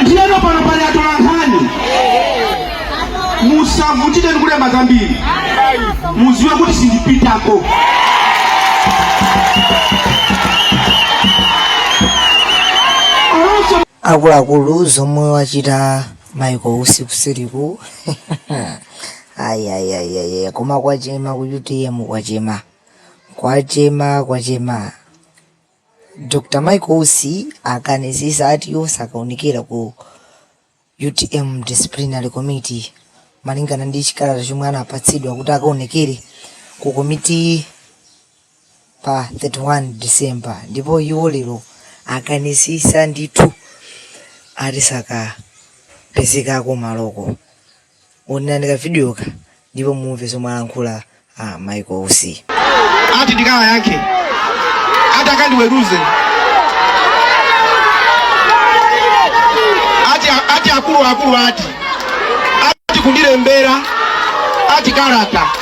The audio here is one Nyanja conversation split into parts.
ndiyeno pano pali atolankhani musavutike ndikulemba zambiri muziwe kuti sindipitako olonso akuluakulu zomwe wachita Michael Usi kuseriku ayayayaya koma kwachema ku utm kwachema kwachema kwachema Dr Michael Usi akanisisa ati iwo sakaonekera ku utm Disciplinary Committee malingana ndi chikalata chomwe anapatsidwa kuti akaonekere ku komitiyi pa 31 December ndipo iwo lero akanisisa ndithu ati sakapezeka kumaloko. Onerani kavidiyoka ndipo mumve zomwe alankhula a Michael Usi. ati ndikawayankhe ati akandiweruze ati, ati akuluakulu ati ati kundilembera ati kalata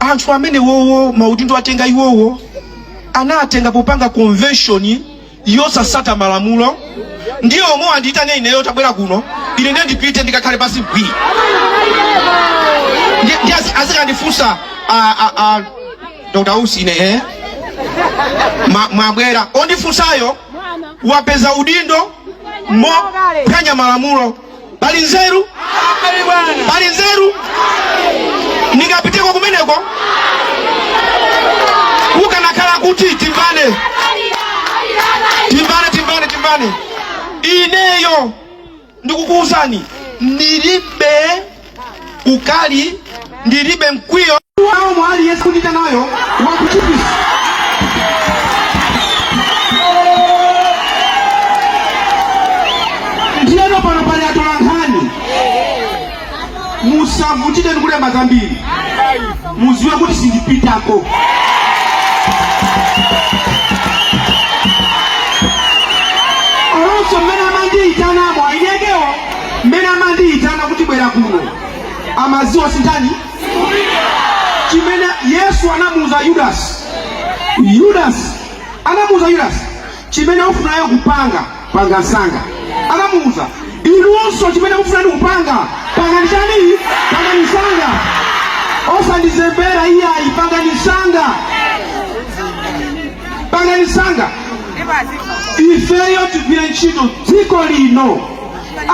anthu amenewowo maudindo atenga iwowo anatenga popanga convention yosasata malamulo ndi omwe andiyitane ineyo tabwera kuno ine ndiye ndipite ndikakhale pansi bwi Ndiye- ndiye azi- azikandifunsa ah, ah, ah, dr usi ine eh? Ma- mwabwera ondifunsayo wapeza udindo mophwanya malamulo pali nzeru pali nzeru ndingapiteko kumeneko kukanakhala kuti timvane timvane timvane timvane ineyo ndikukuwuzani ndilibe ukali ndilibe mkwiyo mwa aliyense ondiyitanayo wakuchipi ndiyeno pano pali atolankhani musavutike ndikulemba zambiri muziwe kuti sindipitako Mmene amandiyitana kuti bwera kuno, amadziwa sinditani chimene Yesu anamuuza Yudasi. Yudasi anamuuza Yudasi, chimene ufunayo kupanga panga msanga. Anamuuza inunso, chimene mufuna inu kupanga pangani chani? Pangani msanga, osandizembera iyayi, pangani msanga, pangani msanga, ifeyo tigwire ntchito dziko lino.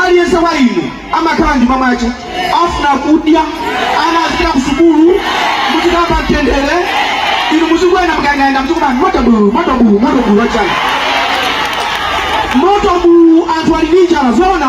aliyense wa inu amakhala ndi mavuto akufuna kudya ana azipita ku sukulu muzikhala pa mtendere inu muzikwera magalimoto muzikuba moto bulu moto bulu moto bulu wachani moto bulu anthu ali ndi njala zoona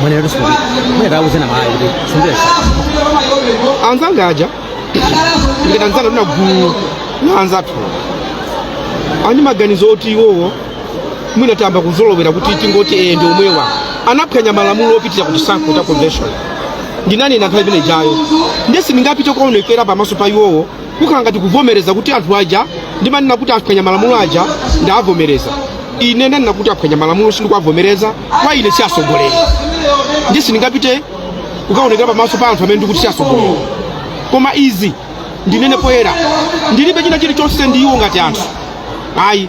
mwenero sikuti mwenye tauzeni mayi kuti sindire anzanga aja ndikati anzangatu gulu la anzathu ali ndi maganizo oti iwowo mwina tayamba kuzolowera kuti tingoti ee ndi omwewa anaphwanya malamulo opitira ku chisankho cha convention ndinanena nthawi imene ijayo ndiye sindingapite kukaonekera pamaso pa iwowo kukhala ngati kuvomereza kuti anthu aja ndimanena kuti aphwanya malamulo aja ndavomereza ine ndanena kuti aphwanya malamulo sindikuwavomereza kwa ine si atsogoleri ndiye sindingapite kukaonekera pamaso pa anthu amene ndikuti si atsogoleri koma izi ndinene poyera ndilibe china chilichonse ndi iwo ngati anthu ayi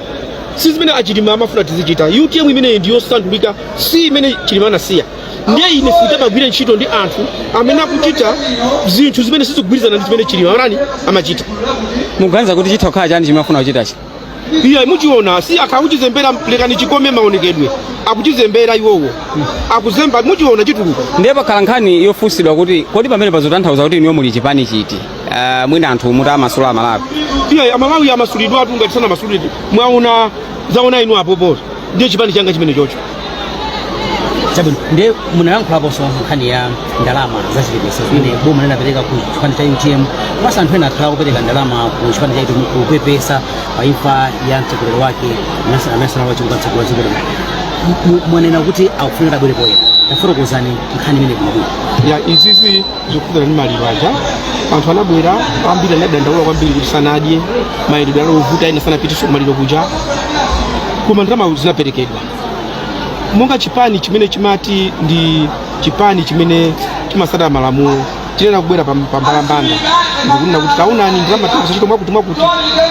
si zimene achilima amafuna tizichita utm imeneyi ndi yosandulika si imene chilima anasiya ndiye ine sindingagwire ntchito ndi anthu amene akuchita zinthu zimene sizikugwirizana ndi zimene chilima anali amachita muganiza kuti chitha kukhala chani chimene mufuna kuchitachi iya muchiona si akhala akuchizembera lekani chikome maonekedwe akuchizembera iwowo akuzemba muchiona chituluka ndiye pakhala nkhani yofunsidwa kuti kodi pamenepa zitanthauza kuti inuyo muli chipani chiti uh, mwina anthu mutiwamasula amalawi iya amalawi amasulidwatu ngati sanamasulidwe mwaona waona inu apopo ndi chipani changa chimenecho chocho chabwino ndiye munayankhulaponso nkhani ya ndalama zachipepeso zimene boma linapereka ku chipani cha utm komanso anthu ena akhala akupereka ndalama ku chipani cha utm kupepesa pa imfa ya mtsogoleri wake malemu Saulos Chilima mtsogoleri wa chipanichi mwanena kuti akufunika abwere poyera tafotokozani nkhani imeneyi bwinobwino ya izizi zokhudzana ndi maliro aja anthu anabwera ambiri anadandaula kwambiri kuti sanadye mayendedwe anali ovuta ena sanapitenso kumaliro kuja koma ndalama zinaperekedwa monga chipani chimene chimati ndi chipani chimene chimatsata malamulo chinayenera kubwera pam- pambalambanda ndikunena kuti taonani ndalama tagwiritsa ntchito mwakuti mwakuti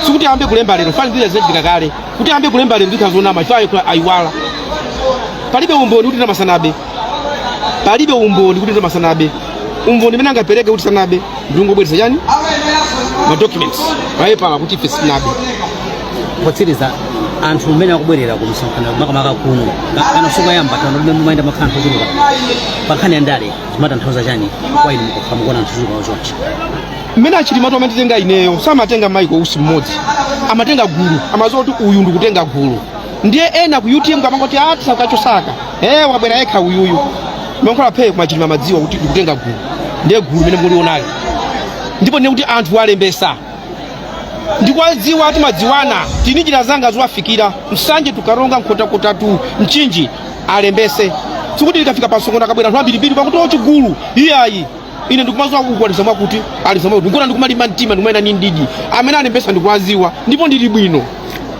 sikuti ayambe kulemba lero chifukwa zija zinachitika kale kuti ayambe kulemba lero ndiye kuti zonama chifukwa ayiwala palibe umboni kuti ndalama sanabe palibe umboni kuti ndalama sanabe umboni umene angapereke kuti sanabe ndikungobweretsa chani ma documents mapepala kuti ife sitinabe potsiriza anthu mmene akubwerera ku msonkhano makamaka kuno kana masiku apitawa mmene mumayenda mumakhala anthu ochuluka pa nkhani ya ndale zimatanthauza chani kwa inu mukakhala mukuona anthu ochuluka ochonchi mmene achilimatu amanditenga ineyo samatenga michael usi mmodzi amatenga gulu amadziwa kuti uyu ndikutenga gulu ndiye ena ku utm akumangoti a Saka Chosaka eh wabwera yekha uyuyu mumalankhulabe kwa aChilima mumadziwa kuti ndikutenga gulu ndiye gulu limene mulionali ndipo ndinene kuti anthu alembesa ndikuwadziwa eti madziwana tini njira zanga zowafikira Nsanje to Karonga Nkhotakota to Mchinji alembese sikuti likafika pamsonkhano akabwera anthu ambirimbiri pakuti ochigulu iyayi ine ndikumaziwa kukwaniritsa mwakuti ali zomwe kuti nkona ndikumalimba mtima ndikumanena ndi mdidi amene alembesa ndikuwaziwa ndipo ndili bwino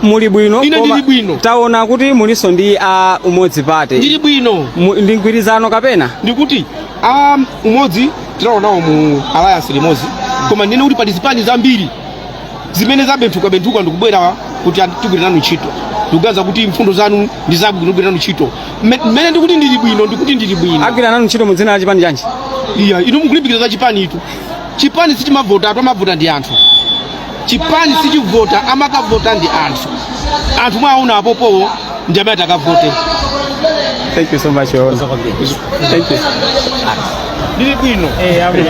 muli bwino Ine koma ndili bwino. taona kuti mulinso ndi a umodzi party ndili bwino Mu- ndi mgwirizano kapena ndikuti a umodzi tinali nawo mu alliance limodzi koma ndinene kuti pali zipani zambiri zimene zabenthuka benthuka ndikubwera kuti tigwire nanu ntchito ndikuganiza kuti mfundo zanu ndi zabwino tigwire nanu ntchito mmene ndikuti ndili bwino ndikuti ndili bwino agwira nanu ntchito mu dzina la chipani chanji iyayi inu mukulimbikira za chipanitu chipani sichimavotatu amavota ndi anthu chipani sichivota amakavota ndi anthu anthu mwawaona apopowo ndi amene atakavote thank you so much Your Honor. thank you ndili bwino eh abwino